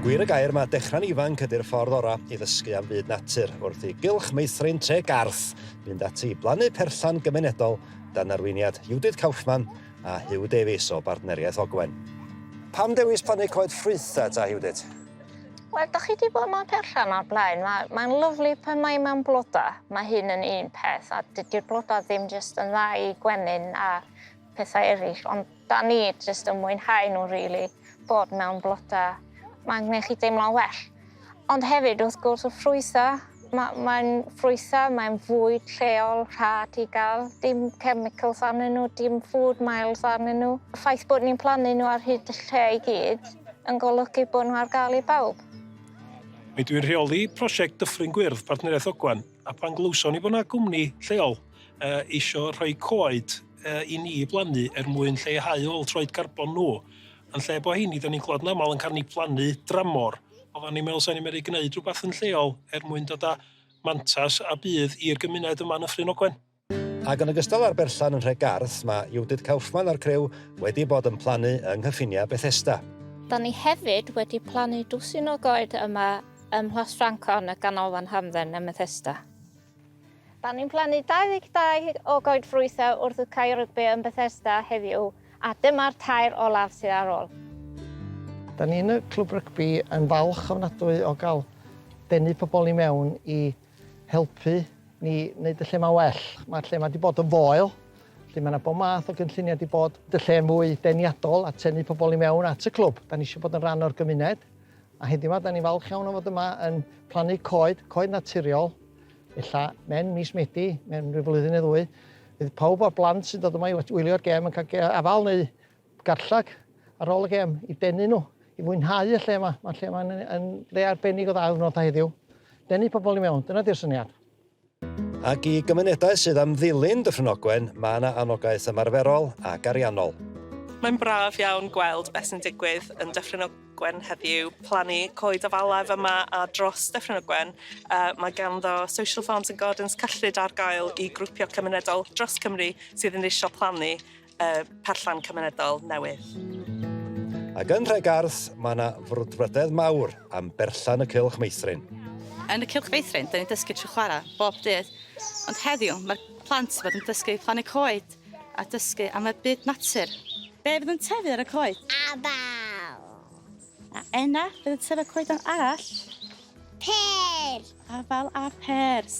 Gwir y gair mae dechrau'n ifanc ydy'r ffordd orau i ddysgu am fyd natur, wrth i gylch meithrin tre Garth fynd ati i blannu perllan gymunedol dan arweiniad Judith Kaufman a Huw Davies o Bartneriaeth Ogwen. Pam dewis plannu coed ffrwytha ta Judith? Wel, da chi wedi bod mewn perllan o'r blaen, mae, mae'n lyflu pan mae mewn bloda, mae hyn yn un peth, a dydy'r bloda ddim jyst yn dda i gwenyn a pethau eraill ond 'da ni jyst yn mwynhau nhw rili, bod mewn bloda mae'n gwneud chi deimlo'n well. Ond hefyd wrth gwrs y ffrwytha', ma' mae'n ffrwytha', mae'n fwyd lleol rhad i gael, dim chemicals arnyn nhw, dim food miles arnyn nhw. Y ffaith bod ni'n plannu nhw ar hyd y lle i gyd yn golygu bod nhw ar gael i bawb. Rydw i'n rheoli prosiect Dyffryn Gwyrdd, Partneriaeth Ogwen, a pan glywson ni bod 'na gwmni lleol, uh, isio rhoi coed uh, i ni blannu er mwyn lleihau ôl troed carbon nhw. Yn lle bod hyn, da ni'n clod yn aml yn cael ni blannu dramor. Oedden ni'n meddwl sa'n ni'n meddwl gwneud rhywbeth yn lleol er mwyn dod â mantas a bydd i'r gymuned yma yn y Ffrin Ogwen. Ac yn ogystal â'r berllan yn Nhregarth, mae Judith Kaufman a'r crew wedi bod yn plannu yng nghyffiniau Bethesda. Da ni hefyd wedi plannu dwsin o goed yma ym Mhlas Ffrancon y Ganolfan Hamdden ym Methesda. Da ni'n plannu 22 o goedffrwythau wrth y cae rygbi yn Bethesda heddiw a dyma'r tair olaf sydd ar ôl. Da ni yn y Clwb Rygbi yn falch ofnadwy o gael denu pobl i mewn i helpu ni wneud y lle yma well. Mae'r lle yma wedi bod yn foel, felly mae yna bob math o gynlluniau wedi bod, y lle mwy deniadol a tenu pobl i mewn at y clwb. Da ni eisiau bod yn rhan o'r gymuned A heddiw 'ma, 'dan ni'n falch iawn o fod yma yn plannu coed, coed naturiol. Ella mewn mis Medi, mewn rhyw flwyddyn neu ddwy, fydd pawb o'r blant sy'n dod yma i wylio'r gêm yn cael afal neu garlleg ar ôl y gêm i denu nhw, i fwynhau y lle yma. Mae'r lle yma'n yn lle arbennig o dda ar ddiwrnod heddiw. Denu pobl i mewn, dyna di'r syniad. Ac i gymunedau sydd am ddilyn Dyffryn Ogwen, mae yna anogaeth ymarferol ac ariannol. Mae'n braf iawn gweld beth sy'n digwydd yn Dyffryn Ogwen heddiw, plannu coed afalaf yma a dros Dyffryn Ogwen, mae ganddo Social Farms and Gardens cyllid ar gael i grwpiau cymunedol dros Cymru sydd yn eisiau plannu y perllan cymunedol newydd. Ac yn Nhre Garth, mae yna frwdfrydedd mawr am berllan y Cylch Meithrin. Yn y Cylch Feithrin, dyn ni'n dysgu trwy chwarae bob dydd, ond heddiw mae'r plant fod yn dysgu plannu coed a dysgu am y byd natur. Be fydd yn tyfu ar y coed? Abal. A enna fydd yn tyfu coed arall? Pêr. Afal a pêrs.